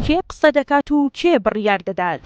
کێ قسە دەکات و کێ بڕیار دەدات؟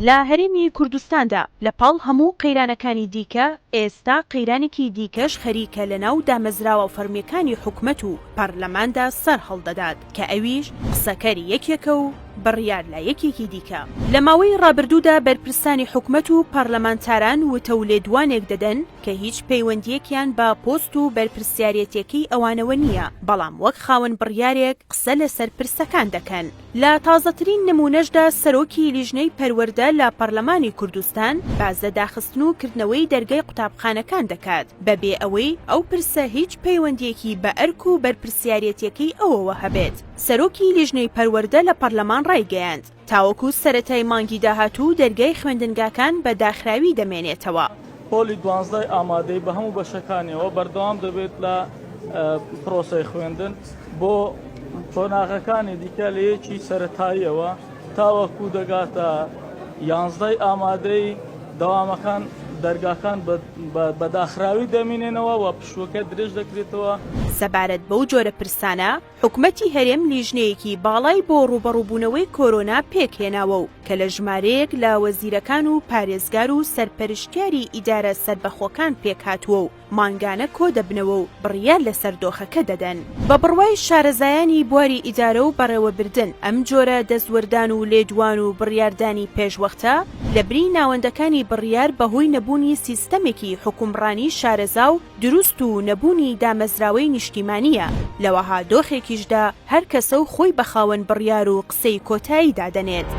لە هەرێمی کوردستاندا لە پاڵ هەموو قەیرانەکانی دیکە، ئێستا قەیرانێکی دیکەش خەریکە لەناو دامەزراوە فەرمییەکانی حکومەت و پەرلەماندا سەرهەڵدەدات. کە ئەویش قسەکەری یەکێکە و بڕیار لای یەکێکی دیکە. لە ماوەی ڕابردوودا بەرپرسانی حکومەت و پەڕلەمانتاران وتە و لێدوانێک دەدەن کە هیچ پەیوەندییەکیان بە پۆست و بەرپرسیارێتییەکەی ئەوانەوە نییە، بەڵام وەک خاوەن بڕیارێک قسە لەسەر پرسەکان دەکەن. لە تازەترین نموونەشدا سەرۆکی لیژنەی پەروەردە لە پەڕلەمانی کوردستان باس لە داخستن و کردنەوەی دەرگای قوتابخانەکان دەکات، بە بێ ئەوەی ئەو پرسە هیچ پەیوەندییەکی بە ئەرک و بەرپرسیارێتییەکەی ئەوەوە هەبێت. سەرۆکی لیژنەی پەروەردە لە پەرلەمان ڕایگەیاند، تاوەکو سەرەتای مانگی داهاتوو دەرگای خوێندنگاکان بە داخراوی دەمێنێتەوە. پۆلی دوانزدە ئامادەی بە هەموو بەشەکانیەوە بەردەوام دەبێت لە پرۆسەی خوێندن بۆ قۆناغەکانی دیکە لە یەکی سەرەتاییەوە. تاوەکو دەگاتە یانزدەی ئامادەی دەوامەکان دەرگاکان بە داخراوی دەمینێنەوە و پشوەکە درێژ دەکرێتەوە. سەبارەت بەو جۆرە پرسانە حکومەتی هەرێم لیژنەیەکی باڵای بۆ ڕووبەڕووبوونەوەی کۆرۆنا پێکهێناوە و کە لە ژمارەیەک لە وەزیرەکان و پارێزگار و سەرپەرشتیاری ئیدارە سەربەخۆکان پێکهاتووە و مانگانە کۆدەبنەوە و بڕیار لەسەر دۆخەکە دەدەن. بە بڕوای شارەزایانی بواری ئیدارە و بەڕێوەبردن، ئەم جۆرە دەستوەردان و لێدوان و بڕیاردانی پێشوەختە لە بری ناوەندەکانی بڕیار بە هۆی نەبوونی سیستەمێکی حکومڕانی شارەزا و دروست و نەبوونی دامەزراوەی نیشتیمانییە، لەوەها دۆخێکیشدا هەر کەسە و خۆی بە خاوەن بڕیار و سەی کۆتایی دادەنێت.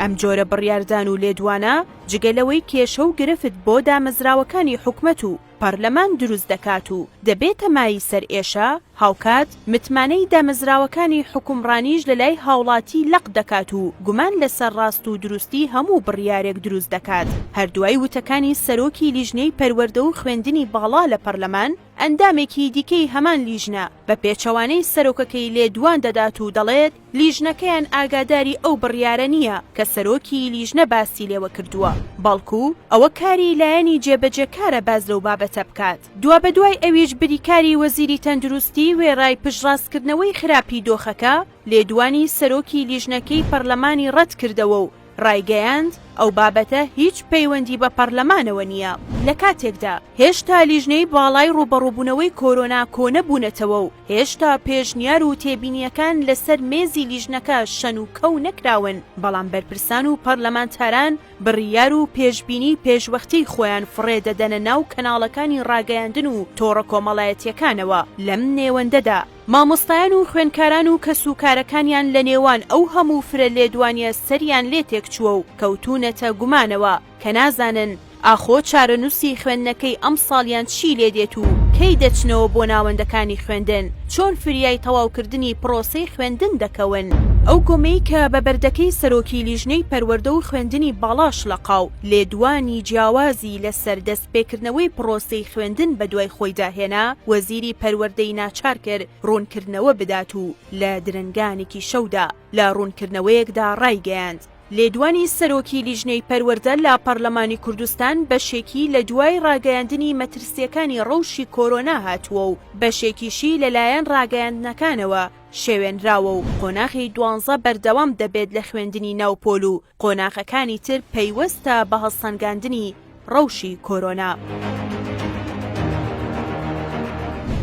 ئەم جۆرە بڕیاردان و لێدوانە جگە لەوەی کێشە و گرفت بۆ دامەزراوەکانی حکومەت و پەڕلەمان دروست دەکات و دەبێتە مایەی سەرئێشە، هاوکات متمانەی دامەزراوەکانی حکومڕانیش لەلای هاوڵاتی لەق دەکات و گومان لەسەر ڕاست و دروستی هەموو بڕیارێک دروست دەکات. هەر دوای وتەکانی سەرۆکی لیژنەی پەروەردە و خوێندنی باڵا لە پەرلەمان، ئەندامێکی دیکەی هەمان لیژنە بە پێچەوانەی سەرۆکەکەی لێدوان دەدات و دەڵێت لیژنەکەیان ئاگاداری ئەو بڕیارە نییە کە سەرۆکی لیژنە باسی لێوە کردووە، بەڵکو ئەوە کاری لایەنی جێبەجێکارە باس لەو بابەتە بکات. دوابەدوای ئەویش بریکاری وەزیری تەندروستی وێڕای پشتڕاستکردنەوەی خراپی دۆخەکە، لێدوانی سەرۆکی لیژنەکەی پەرلەمانی ڕەتکردەوە و ڕایگەیاند، ئەو بابەتە هیچ پەیوەندی بە پەرلەمانەوە نییە، لە کاتێکدا هێشتا لیژنەی باڵای ڕووبەڕووبوونەوەی کۆرۆنا کۆنەبوونەتەوە و هێشتا پێشنیار و تێبینییەکان لەسەر مێزی لیژنەکە شەن و کەو نەکراون، بەڵام بەرپرسان و پەرلەمانتاران بڕیار و پێشبینی پێشوەختیی خۆیان فڕێ دەدەنە ناو کەناڵەکانی ڕاگەیاندن و تۆڕە کۆمەڵایەتییەکانەوە لەم نێوەندەدا. مامۆستایان و خوێنکاران و کەس و کارەکانیان لە نێوان ئەو هەموو فرە لێدوانیە سەریان لێ تێکچووە و کەوتوونەتە گومانەوە کە نازانن ئاخۆ چارەنووسی خوێندنەکەی ئەمساڵیان چی لێ دێت و کەی دەچنەوە بۆ ناوەندەکانی خوێندن، چۆن فریای تەواوکردنی پرۆسەی خوێندن دەکەون. ئەو گۆمەی کە بە بەردەکەی سەرۆکی لیژنەی پەروەردە و خوێندنی باڵا شڵەقاو لێدوانی جیاوازی لە سەر دەست. پێکردنەوەی پڕۆسەی خوێندن بەدوای خۆیدا هێنا، وەزیری پەروەردەی ناچار کرد ڕوونکردنەوە بدات و لە درەنگانێکی شەودا لە ڕوونکردنەوەیەکدا ڕایگەیاند، لێدوانی سەرۆکی لیژنەی پەروەردە لە پەرلەمانی کوردستان بەشێکی لە دوای ڕاگەیاندنی مەترسییەکانی ڕەوشی کۆرۆنا هاتووە و بەشێکیشی لەلایەن ڕاگەیاندنەکانەوە شێوێنراوە و قۆناغی دوانزە بەردەوام دەبێت لە خوێندنی ناوپۆل و قۆناغەکانی تر پەیوەستە بە هەڵسەنگاندنی ڕەوشی کۆرۆنا.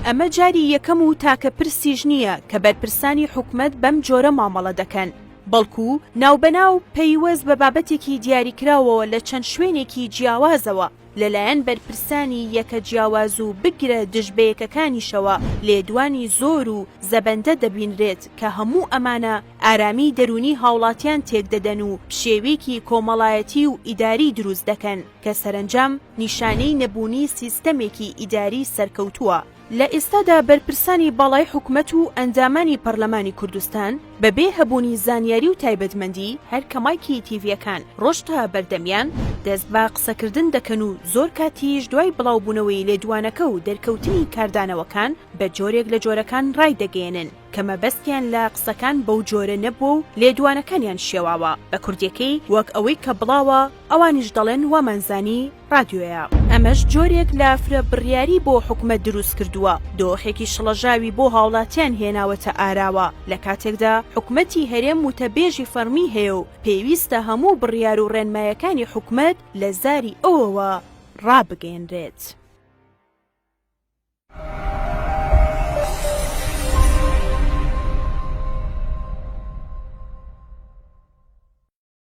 ئەمە جاری یەکەم و تاکە پرسیش نییە کە بەرپرسانی حکومەت بەم جۆرە مامەڵە دەکەن، بەڵکو ناوبەناو پەیوەست بە بابەتێکی دیاریکراوەوە لە چەند شوێنێکی جیاوازەوە، لەلایەن بەرپرسانی یەکە جیاواز و بگرە دژ بەیەکەکانیشەوە لێدوانی زۆر و زەبەندە دەبینرێت کە هەموو ئەمانە ئارامی دەروونی هاوڵاتیان تێکدەدەن و پشێویکی کۆمەڵایەتی و ئیداری دروست دەکەن کە سەرەنجام نیشانەی نەبوونی سیستەمێکی ئیداری سەرکەوتووە. لە ئێستادا بەرپرسانی باڵای حکومەت و ئەندامانی پەرلەمانی کوردستان بە بێ هەبوونی زانیاری و تایبەتمەندی هەر کە مایکی تیڤیەکان ڕۆشت تا بەردەمیان دەست بە قسەکردن دەکەن و زۆر کاتیش دوای بڵاوبوونەوەی لێدوانەکە و دەرکەوتنی کاردانەوەکان بە جۆرێک لە جۆرەکان ڕایدەگەیەنن کە مەبەستیان لە قسەکان بەو جۆرە نەبووە و لێدوانەکانیان شێواوە بە کوردیەکەی وەک ئەوەی کە بڵاوە ئەوانیش دەڵێن وامانزانی ڕادیۆیە. ئەمەش جۆرێک لە فرە بڕیاری بۆ حکومەت دروست کردووە، دۆخێکی شڵەژاوی بۆ هاوڵاتیان هێناوەتە ئاراوە، لە کاتێکدا حکومەتی هەرێم وتەبێژی فەڕمی هەیە و پێویستە هەموو بڕیار و ڕێنمایەکانی حکومەت لە زاری ئەوەوە ڕابگەیەنرێت.